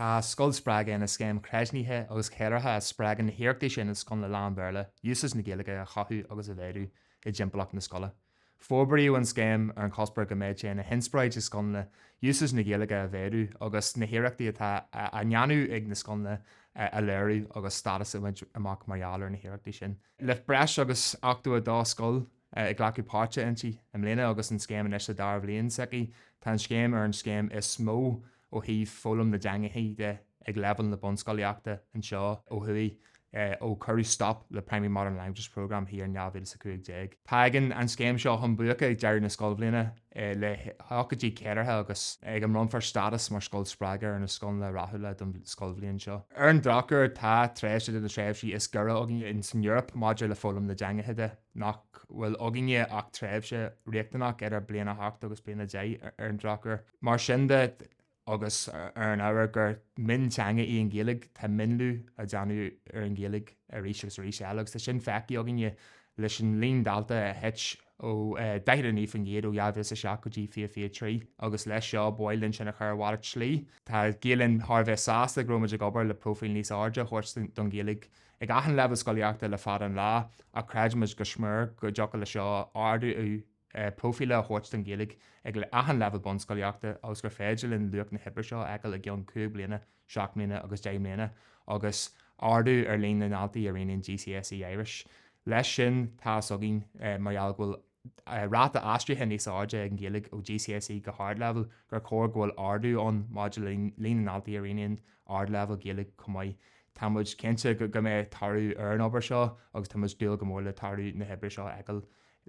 Tá Scoil Spreagtha ina scéim chreidiúnaithe agus cheiliúrtha a spreagann na hiarrachtaí sin i scoileanna lán-Bhéarla úsáid na Gaeilge a chothú agus a mhéadú i dtimpeallacht na scoile. Forbraíodh an scéim ar an chuspóir go mbeadh sé ina inspioráid i scoileanna úsáid na Gaeilge a mhéadú agus na hiarrachtaí atá á ndéanamh ag na scoileanna a léiriú agus stádas a bhaint amach mar gheall ar na hiarrachtaí sin. Le breis agus 82 scoil ag glacadh páirte inti i mbliana agus an scéim anois sa dara bhliain s'aici. Tá an scéim ar an scéim is mó ó thaobh foghlaim na dteangacha de ag leibhéal na bunscolaíochta anseo ó thuaidh ó cuireadh stop le Primary Modern Languages Programme thiar in 2015. Tagann an scéim seo chun buaice ag deireadh na scoilbhliana le hócáidí ceiliúrtha agus ag a mbronnfar stádas mar Scoil Spreagtha ar na scoileanna rathúla don scoilbhliain seo. Ar an drochuair, tá tréimhse de na tréimhsí is giorra againn san Eoraip maidir le foghlaim na dteangacha de. nach bhfuil againne ach tréimhse riachtanach idir bliain a hocht agus bliain a deich ar an drochuair. Mar sin de, agus ar an ábhar gur mionteanga í an Ghaeilge, tá mionlú á dhéanamh ar an Ghaeilge arís agus arís eile agus tá sin feicthe againne leis an líon dalta a thit ó 49% ó 2007 go dtí 2023 agus leis seo b'áil linn sin a chur ar mhalairt slí. Tá Gael Linn thar a bheith sásta go raibh muid ag obair le próifíl níos airde a thabhairt don Ghaeilge ag achan leibhéal scolaíochta le fada an lá ach creidimid go smior go dtiocfadh le seo ardú próifíle a thabhairt don Ghaeilge ag achan leibhéal bunscolaíochta agus gur féidir linn luach na hoibre seo a fheiceáil i gceann cúig bliana, seacht mbliana agus deich mbliana agus ardú ar líon na ndaltaí a roghnaíonn GCSE Irish. Leis sin, tá a fhios againn mar gheall go bhfuil. ráta aistrithe níos airde ag an Ghaeilge ó GCSE go hArdleibhéal, gur chóir go bhfuil ardú ann maidir le líon na ndaltaí a roghnaíonn Ardleibhéal Gaeilge chomh maith. Tá muid cinnte go mbeidh toradh ar an obair seo agus tá muid ag dúil go mór le toradh na hoibre seo a fheiceáil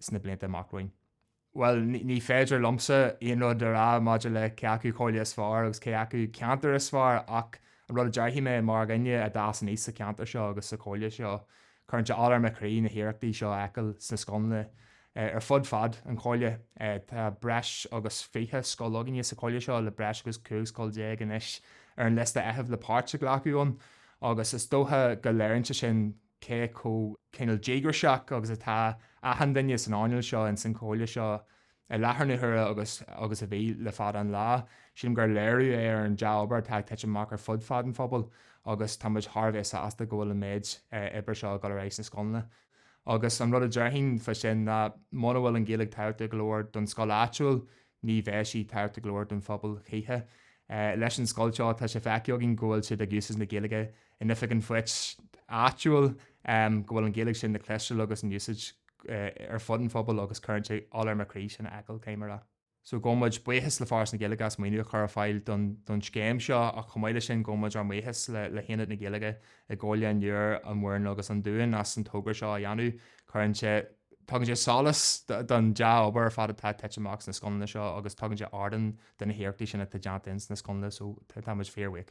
sna blianta amach romhainn. Bhuel, ní féidir liomsa aon rud a rá maidir le cé acu comhairle is fearr agus cé acu ceantar is fearr ach an rud a déarfaidh mé mar dhuine a d'fhás aníos sa cheantar seo agus sa chomhairle seo, Cuireann sé ola ar mo chroí na hiarrachtaí seo a fheiceáil sna scoileanna ar fud fad an Chomhairle. Tá breis agus fiche scoil againne sa Chomhairle seo le breis agus 15 scoil anois ar an liosta feithimh le páirt a ghlacadh ann agus is dócha go léirionn sé sin cé chomh cineál díograiseach agus atá achan duine san earnáil seo ins an Chomhairle seo. I láthair na huaire agus a bhí le fada an lá, sílim gur léiriú é ar an dea-obair atá ag titim amach ar fud fad an phobail agus tá muid thar a bheith sásta go bhfuil an méid oibre seo ag dul ar aghaidh sna scoileanna. Agus an rud a déarfainn fá sin ná muna bhfuil an Ghaeilge tábhachtach go leor don scoil áitiúil, ní bheidh sí tábhachtach go leor don phobal choíche. Leis an scoil seo, tá sé feicthe againn go bhfuil siad ag úsáid na Gaeilge in oifig an phoist áitiúil go bhfuil an Ghaeilge sin le cloisteáil agus in úsáid ar fud an phobail agus cuireann sé ola ar mo chroí sin a fheiceáil céim ar aghaidh. So gabhaimid buíochas le Foras na Gaeilge as maoiniú a chur ar fáil don scéim seo ach chomh maith leis sin gabhaimid ár mbuíochas le hAonad na Gaeilge i gComhairle an Iúir, an Mhúrn agus an Dúin as an togra seo a dhéanamh. Cuireann sé, tugann sé solas don dea-obair ar fad atá ag titim amach sna scoileanna seo agus tugann sé ardán do na hiarrachtaí sin atá déanta ins na scoileanna so táimid fíor bhuíoch.